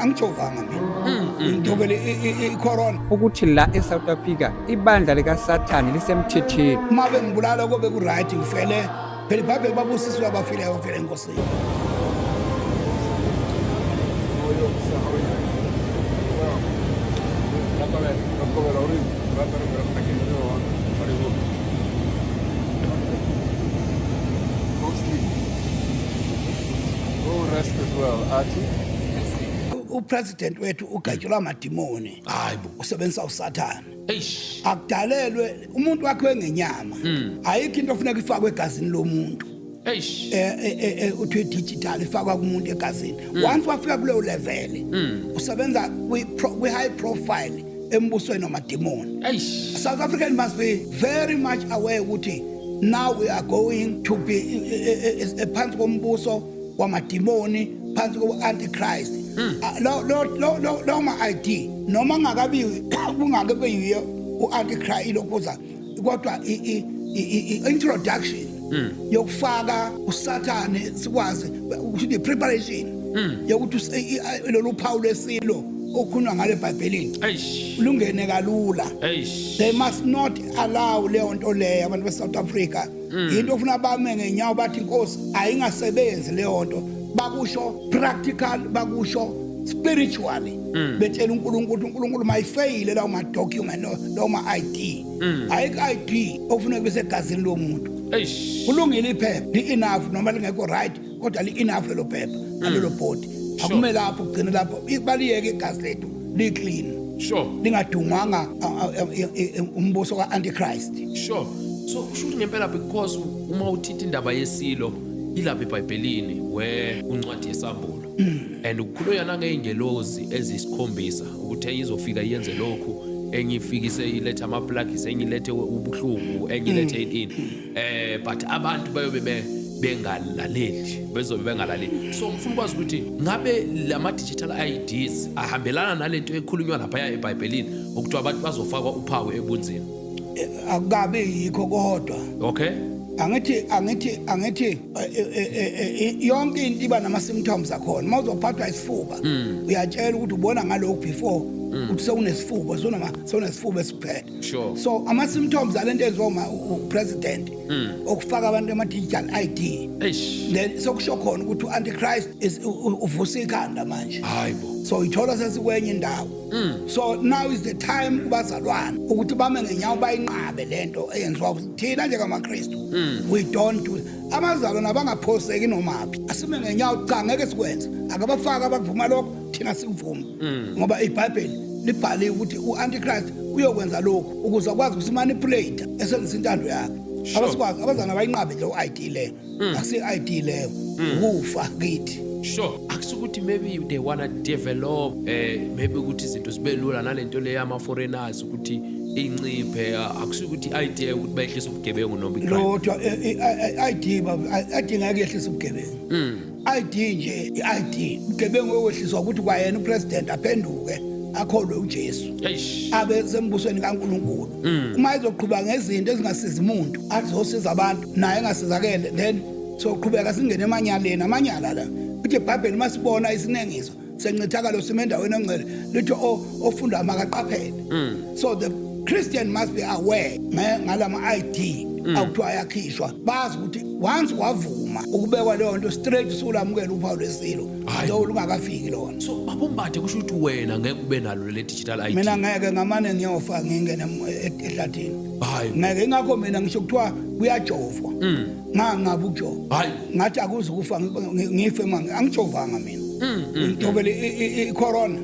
angijovanga mina ngidobele icorona ukuthi la esouth africa ibandla likasathane lisemthetheni uma bengibulala kobe kuright ngifele phela ibhabheli babusiswe abafileyo ngifele enkosini upresident wethu ugatshelwa amadimoni hayibo usebenzisa usathane eish akudalelwe umuntu wakhe wengenyama hmm. ayikho into ofuneka ifakwe egazini lomuntu eish eh, eh, eh, eh uthi digital ifakwa kumuntu egazini hmm. once wafika kuleyo level hmm. usebenza kwi high profile embusweni wamademoni south african must be very much aware ukuthi now we are going to be phansi kombuso wamademoni phansi kobu-antichrist hmm. ah, lowo ma-id noma ngakabi kungake beyiyo u-antichrist lokhuza kodwa i-introduction hmm. yokufaka usathane sikwazi ukuthi ne-preparation hmm. yokuthi lolu phawu lwesilo okukhulunywa ngale bhayibhelini lungene kalula they must not allow leyo nto leyo abantu be-south africa mm. yinto ofuna bame ngenyawo bathi inkosi ayingasebenzi leyo nto bakusho practical bakusho spiritually mm. betshela uNkulunkulu uNkulunkulu mayifeyile lawo ma document no lawo ma ID mm. ayike ID okufuneka bese egazini lomuntu kulungile iphepha li enough noma lingekho right kodwa li-enough lelo phepha mm. nalelo bhodi akumele lapho kugcine lapho baliyeke igazi lethu li-clean sure lingadungwanga umbuso ka-antichrist sure so kusho ukuthi ngempela because uma uthithi indaba yesilo ilapha ebhayibhelini we uncwadi yesambulo mm. and ukukhulunywa nangey'ngelozi ezisikhombisa ukuthi enye izofika yenze lokhu enye ifikise ilethe amaplagisi enye ilethe ubuhlungu enye ilethe mm. ini eh but abantu bayobe be bengalaleli bezobe bengalaleli so ngifuna ukwazi ukuthi ngabe lama digital IDs ahambelana nalento ekhulunywa lapha ya eBhayibhelini ukuthi abantu bazofakwa uphawu ebunzini eh, akukabe yikho kodwa okay angithi angithi angithi eh, eh, yonke into iba nama symptoms akhona mawuzophathwa isifuba hmm. uyatshela ukuthi ubona ngalokho before hmm. ukuthi sewunesifuba sona sona isifuba esiphethe sure so ama symptoms alento enziwa uma upresident hmm. okufaka abantu ama digital ID eish then sokusho khona ukuthi uantichrist is uvusa ikhanda manje hayibo so ithola sesikwenye indawo hmm. so now is the time kubazalwana ukuthi bame ngenyawo bayinqabe lento eyenziwa thina njengamaKristu hmm. we don't do abazalwana bangaphoseki nomaphi asime ngenyawo cha ngeke sikwenze akabafaka abakuvuma lokho thina sikuvuma mm. ngoba ibhayibheli libhale ukuthi u-antichrist uyokwenza lokhu ukuze akwazi ukusimanipulate esebenzisa intando yakhe abasikwazi abazana abayinqabe leyo ID leyo hmm. akusi ID leyo hmm. ukufa kithi sure akusukuthi maybe they wanna develop eh maybe ukuthi izinto zibe lula nalento leyo ama foreigners ukuthi inciphe akusukuthi ID ukuthi bayehlisa ubugebengu noma icrime lodwa eh, eh, eh, ID baba adinga kuyehlisa ubugebengu hmm. ID nje i-ID mgebengu wewehliswa ukuthi kwayena upresident aphenduke akholwe uJesu abe sembusweni kaNkuluNkulu mm. uma ezoqhubeka ngezinto ezingasiza umuntu azosiza abantu naye engasizakele then soqhubeka singene emanyaleni amanyala la uthi ibhayibheli uma sibona isinengiso sencithakalo sime endaweni ongcwele lithi ofunda makaqaphele mm. so the christian must be aware ngalama-id mm. akuthiwa ayakhishwa bazi ukuthi once wavuma ukubekwa leyo nto straight usulamukela uphawu lesilo lo lungakafiki lona so babombathe kusho ukuthi wena ngeke ube nalo le digital id mina ngeke ngamane ngiyofa ngingene e-, ehlathini hayi ngeke ingakho mina ngisho kuthiwa kuyajovwa mm. ngangabe ukujova hayi ngathi akuze ukufa ngife manje angijovanga mina ngidobele icorona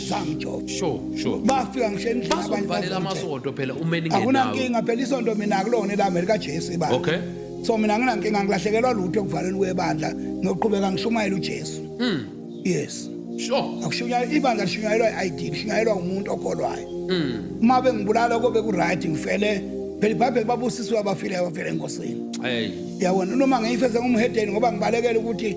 samjob sure sure bafika ngisho endlini abanye bavala amasonto phela umeni ngenawo akunankinga phela isonto mina kulona elami lika Jesu ibandla okay so mina nginankinga ngilahlekelwa lutho ekuvaleni kwebandla ngiyoqhubeka ngishumayela uJesu mm yes sure akushunyayela ibandla lishunyayelwa i-ID lishunyayelwa umuntu okholwayo mm uma bengibulala kobe ku right ngifele phela ibhayibheli babusisiwe abafileyo abafele enkosini yabona noma ngiyifeze ngumhedeni ngoba ngibalekele ukuthi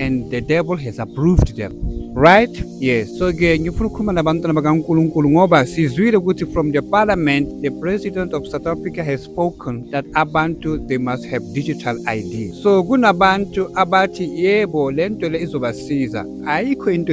and the devil has approved them right yes so ke ngifuna ukukhuluma nabantwana bakankulunkulu ngoba sizwile ukuthi from the parliament the president of south africa has spoken that abantu they must have digital id so kunabantu abathi yebo le nto le izobasiza ayikho into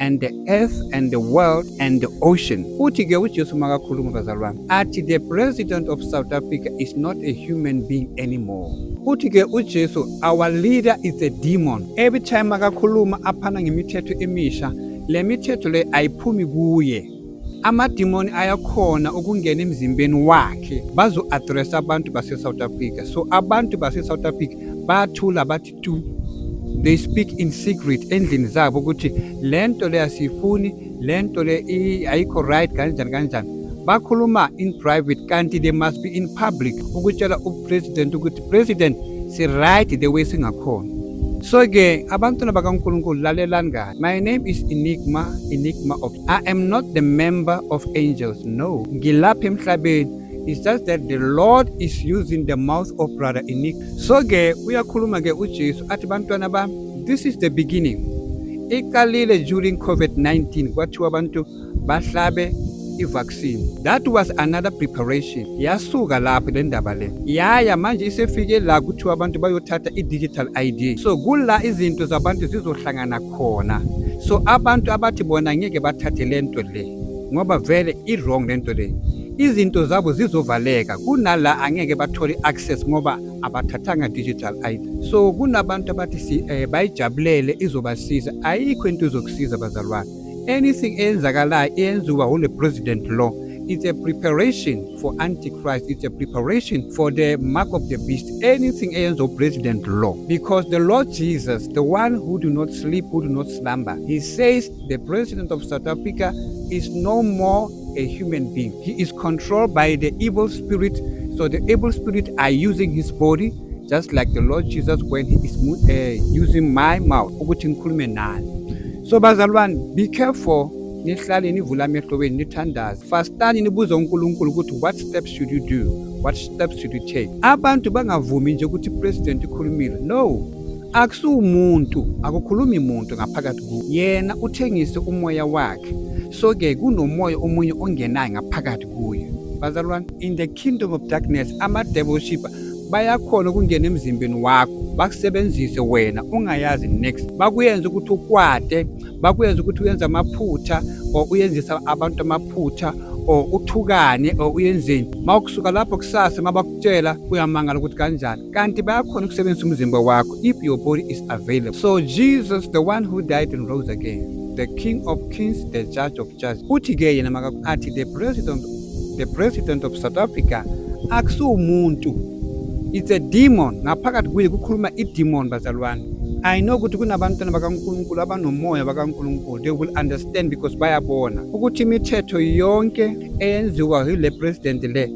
and the earth and the world and the ocean uthi-ke ujesu makakhuluma bazali bami athi the president of south africa is not a human being anymore uthi-ke ujesu our leader is a demon every time akakhuluma aphana ngemithetho emisha le mithetho le ayiphumi kuye amadimoni ayakhona ukungena emzimbeni wakhe bazo-adressa abantu base-south africa so abantu base-south africa bathula bathi to they speak in secret endlini zabo ukuthi le nto le asiyifuni le nto le ayikho right kanjani kanjani bakhuluma in private kanti they must be in public ukutshela upresident ukuthi president si-right the way singakhona so-ke abantwana bakankulunkulu lalelani kahle my name is enigma enigma of i am not the member of angels no ngilapha emhlabeni It's just that the Lord is using the mouth of brother Inick. So ke uyakhuluma ke uJesu athi bantwana ba this is the beginning. Iqalile during COVID-19 kwathiwa abantu bahlabe i-vaccine that was another preparation yasuka lapho le ndaba le yaya manje isefike la kuthiwa abantu bayothatha i-digital id so kula izinto zabantu zizohlangana khona so abantu abathi bona ngeke bathathe le nto le ngoba vele i-wrong le nto le izinto zabo zizovaleka kunala angeke bathole access ngoba abathathanga digital ID so kunabantu abathi eh, bayijabulele izobasiza ayikho into izokusiza bazalwane anything eyenzakalayo eyenziwa wule president law it's a preparation for antichrist it's a preparation for the mark of the beast anything eyenza upresident law because the lord jesus the one who do not sleep who do not slumber he says the president of south africa is no more a human being. He is controlled by the evil spirit. So the evil spirit are using his body just like the Lord Jesus when he is uh, using my mouth ukuthi ngikhulume nani. So bazalwane be careful nihlale nivula amehlo wenu nithandaze fastani nibuze unkulunkulu ukuthi what steps should you do what steps should you take abantu bangavumi nje ukuthi president ikhulumile no akusiwumuntu akukhulumi muntu ngaphakathi ku yena uthengise umoya wakhe so ke kunomoya omunye ongenayo ngaphakathi kuyo bazalwane in the kingdom of darkness ama-devil shipper bayakhona ukungena emzimbeni wakho bakusebenzise wena ungayazi next bakuyenza ukuthi ukwate bakuyenza ukuthi uyenze amaphutha or uyenzisa abantu amaphutha or uthukane or uyenzeni uma ukusuka lapho kusasa uma bakutshela uyamangala ukuthi kanjani kanti bayakhona ukusebenzisa umzimba wakho if your body is available so jesus the one who died and rose again the king of kings the judge of judges uthi ke yena makathi the president the president of south africa akusiwumuntu it's a demon ngaphakathi kuye kukhuluma idemon bazalwane I know ukuthi kunabantwana bakaNkulunkulu abanomoya bakaNkulunkulu they will understand because bayabona ukuthi imithetho yonke eyenziwa yile president le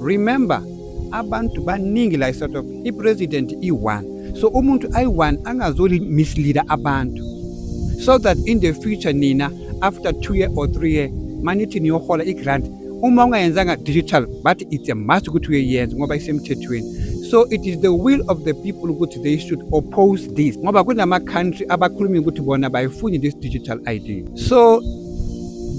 remember abantu baningi la eSouth Africa ipresident i-1 so umuntu ayi-1 angazoli misleader abantu so that in the future nina after 2 year or 3 year manithi niyohola i-grant uma ungayenzanga digital but it's a must ukuthi uyeyenza ngoba isemthethweni so it is the will of the people ukuthi they should oppose this ngoba kunama-country abakhulumi ukuthi bona bayifuni this digital id so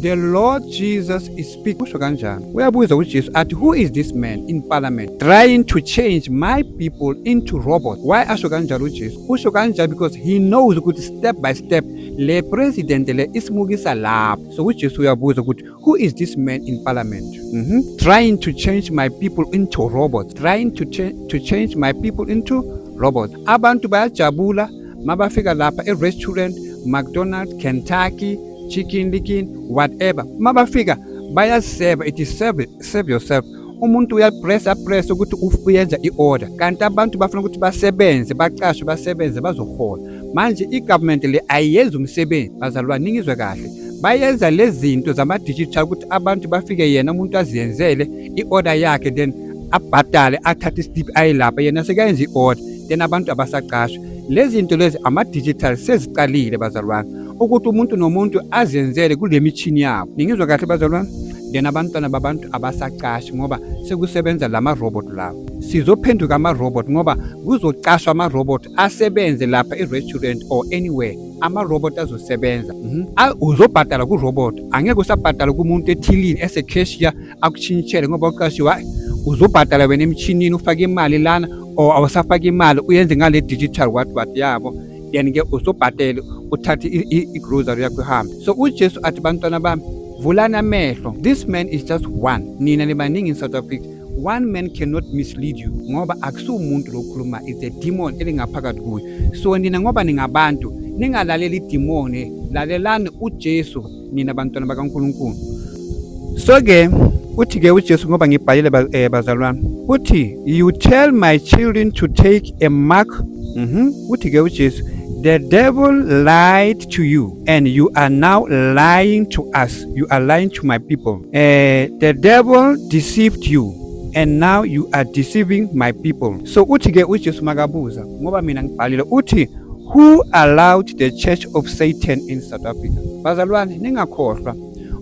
the lord jesus is Big usho kanjani? Uyabuza uJesu athi who is this man in parliament trying to change my people into robots? Why asho kanjalo uJesu? Usho kanjalo because he knows ukuthi step by step le president le isimukisa lapho. So uJesu uyabuza ukuthi who is this man in parliament? Mm -hmm. Trying to change my people into robots. Trying to, cha to change my people into robots. Abantu bayajabula mabafika lapha e-restaurant mcdonald kentucky chicken likin whatever mabafika bayaseva it is serve, serve yourself umuntu uyapressa pressa ukuthi uyenza i-order kanti abantu bafuna ukuthi basebenze bacashwe basebenze bazohola manje i-government le ayiyenzi umsebenzi bazalwane ningizwe kahle bayenza lezi zinto zama-digital ukuthi abantu bafike yena umuntu aziyenzele i-order yakhe then abhadale athathe isitipi ayelapha yena sekayenza i-order then abantu abasaqashwa lezinto lezi ama digital seziqalile bazalwane ukuthi umuntu nomuntu azenzele kule mishini yabo ningizwa kahle bazalwane then abantwana babantu abasaqashi ngoba sekusebenza lama robot lawo sizophenduka ama robot ngoba kuzocashwa ama robot asebenze lapha e restaurant or anywhere ama robot azosebenza mhm. uzobhadala ku robot angeke usabhadala kumuntu ethilini ese cashier akushintshele ngoba uqashiwe hayi uzobhadala wena emshinini ufake imali lana or awusafake imali uyenze ngale digital what what yabo then ke uzobhadele uthathe igrocery yakho ihambe so ujesu athi bantwana bami vulani amehlo this man is just one nina nibaningi in south africa one man cannot mislead you ngoba akusiwumuntu lokhuluma it's a demon elingaphakathi kuye so nina ngoba ningabantu ningalaleli idimoni lalelani ujesu nina bantwana bakaNkulunkulu so ke uthi ke uJesu ngoba ngibhalile eh, bazalwane uthi you tell my children to take a mark mhm uthi ke uJesu The devil lied to you, and you are now lying to us. You are lying to my people. Uh, the devil deceived you, and now you are deceiving my people. So uthi ke uJesu makabuza ngoba mina ngibhalile uthi who allowed the church of satan in south africa bazalwane ningakhohlwa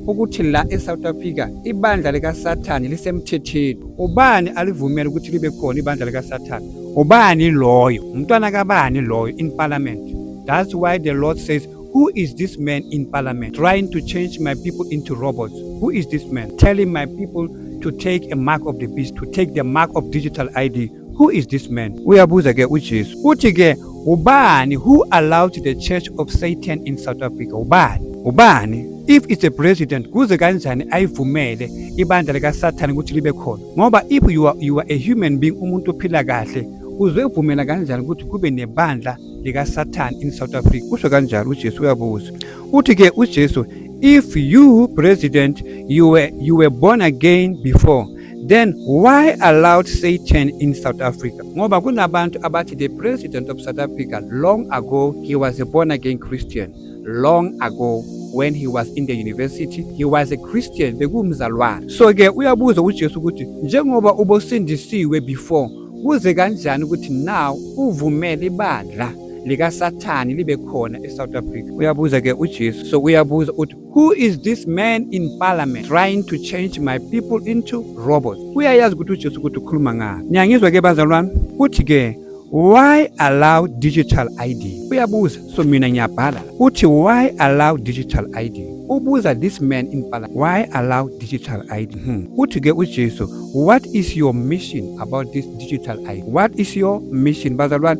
ukuthi la e-south africa ibandla likasathane lisemthetheni ubani alivumele ukuthi libe khona ibandla likasathane ubani loyo umntwana kabani loyo in parliament that's why the lord says who is this man in parliament trying to change my people into robots who is this man telling my people to take a mark of the beast to take the mark of digital id Who is this man? Uyabuza ke uJesu. Uthi ke ubani who allowed the church of Satan in South Africa? Ubani? Ubani? If it's a president kuze kanjani ayivumele ibandla lika Satan ukuthi libe khona? Ngoba if you are, you are a human being umuntu ophila kahle uzovumela kanjani ukuthi kube nebandla lika Satan in South Africa? Kusho kanjalo uJesu uyabuza. Uthi ke uJesu if you president you were, you were born again before Then why allowed Satan in South Africa? Ngoba kunabantu abathi the president of South Africa long ago he was a born again Christian long ago when he was in the university he was a Christian bekumzalwane so ke uyabuza uJesu ukuthi njengoba ubosindisiwe before kuze kanjani ukuthi now uvumele ibandla likasathane libe khona eSouth Africa uyabuza ke uJesu so uyabuza uthi Who is this man in parliament trying to change my people into robots? Uyayazi ukuthi uJesu ukuthi ukhuluma ngani. Niyangizwa ke bazalwane? Uthi ke why allow digital ID? Uyabuza. So mina ngiyabhala. Uthi why allow digital ID? Ubuza this man in parliament why allow digital ID? Hmm. Uthi ke uJesu what is your mission about this digital ID? What is your mission bazalwane?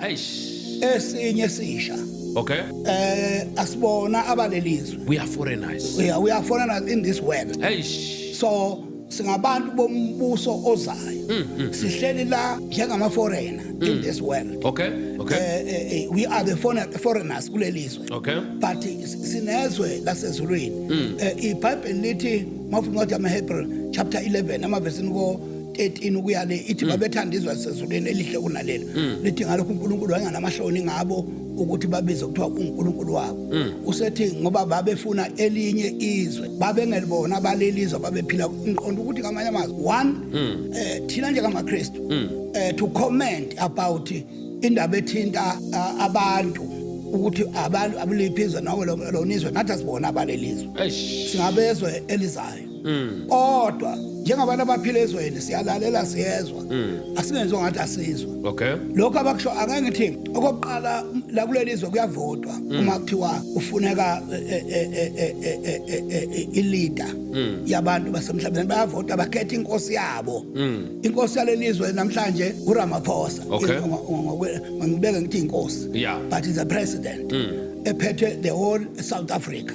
eish esinye sisha okay eh asibona abalelizwe we are foreigners we are, we are foreigners in this world eish so singabantu bombuso ozayo mm, mm, mm. sihleli la njengama foreigner in this world okay okay eh, eh, eh, we are the foreigners kulelizwe okay but sinezwe lasezulwini ibhayibheli lithi mawufuna incwadi yamahebrew chapter 11 amaversini ko 13 ukuya le ithi mm. babethanda izwe lisezulwini elihle kunalelo mm. lithi ngalokho uNkulunkulu wayenganamahloni ngabo ukuthi babize kuthiwa uNkulunkulu wabo mm. usethi ngoba babefuna elinye izwe babengelibona balelizwe babephila ngiqonda ukuthi kamanye amazwi one eh thina njengamaKristu eh to comment about indaba ethinta abantu ukuthi abantu abuliphi izwe nawe lo nizwe nathi asibona abalelizwe singabezwe elizayo Mm. kodwa njengabantu abaphila ezweni siyalalela siyezwa mm. asingenziwa ngathi asizwa okay lokho abakusho angeke ngithi okokuqala la kuleli zwe kuyavotwa mm. uma kuthiwa ufuneka ileader yabantu basemhlabeni bayavota bakhetha inkosi yabo inkosi yaleli zwe namhlanje uRamaphosa ngibeke ngithi inkosi but is a president ephethe the whole South Africa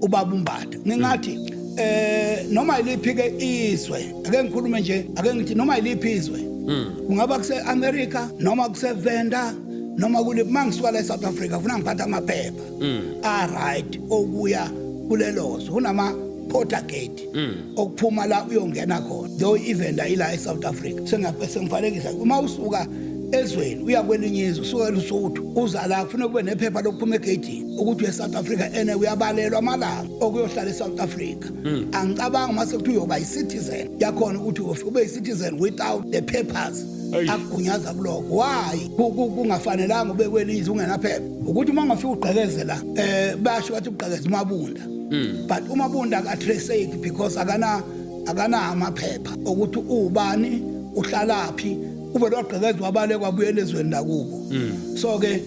ubaba umbada ngingathi eh noma iliphi ke izwe ake ngikhulume nje ake ngithi noma iliphi izwe hmm. kungaba kuse America noma kuse Venda noma kule mangisuka la eSouth Africa ufuna ngiphatha amaphepha hmm. a right okuya kulelozo kunama porter gate hmm. okuphuma la uyongena khona though ivenda ila eSouth Africa sengabe sengifanekisa uma usuka ezweni uya kwelinye izwe usuka eLusuthu uza la kufanele kube nephepha lokuphuma egeyidini ukuthi we-south africa ene uyabalelwa amalanga okuyohlala e-south africa mm. angicabanga uma sekuthi uyoba yi-citizen yakhona ukuthi ufike ube yi-citizen without the papers akugunyaza kuloko why kungafanelanga ube kwelizwe ungenaphepha ukuthi uma ungafika ugqekeze la um eh, basho bathi ugqekeze umabunda mm. but umabunda akatraceki because akana akana amaphepha ukuthi uwubani uhlalaphi ube lwagqekezwa abale kwabuyela ezweni lakubo mm. so-ke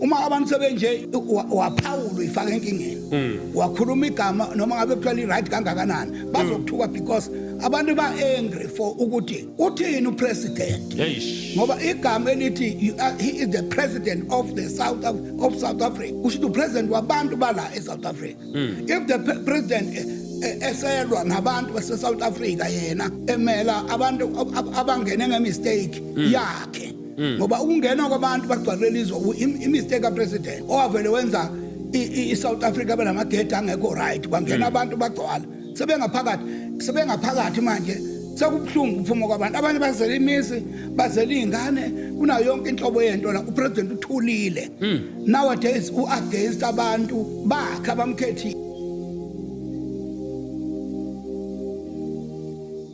uma abantu sebenje waphawula ifaka enkingeni hmm. wakhuluma igama noma ngabe kuthiwa li-right kangakanani hmm. bazokuthuka because abantu ba-angry for ukuthi uthini upresident ngoba igama elithi uh, he is the president of the south of, of south africa kusho ukuthi upresident wabantu bala e-south africa hmm. if the president eh, eh, eselwa nabantu base-south africa yena emela abantu abangene ngemistake yakhe mm. ngoba ukungena kwabantu bagcwalele izwe imistake kapresident owavele wenza i-south africa benamagedi angekho right kwangena mm. abantu bagcwala sebengaphakathi sebengaphakathi manje sekubuhlungu ukuphuma kwabantu abanye bazela imizi bazela iy'ngane kunayo yonke inhlobo yento la upresident uthulile mm. nowadays u-against abantu bakhe abamkhethile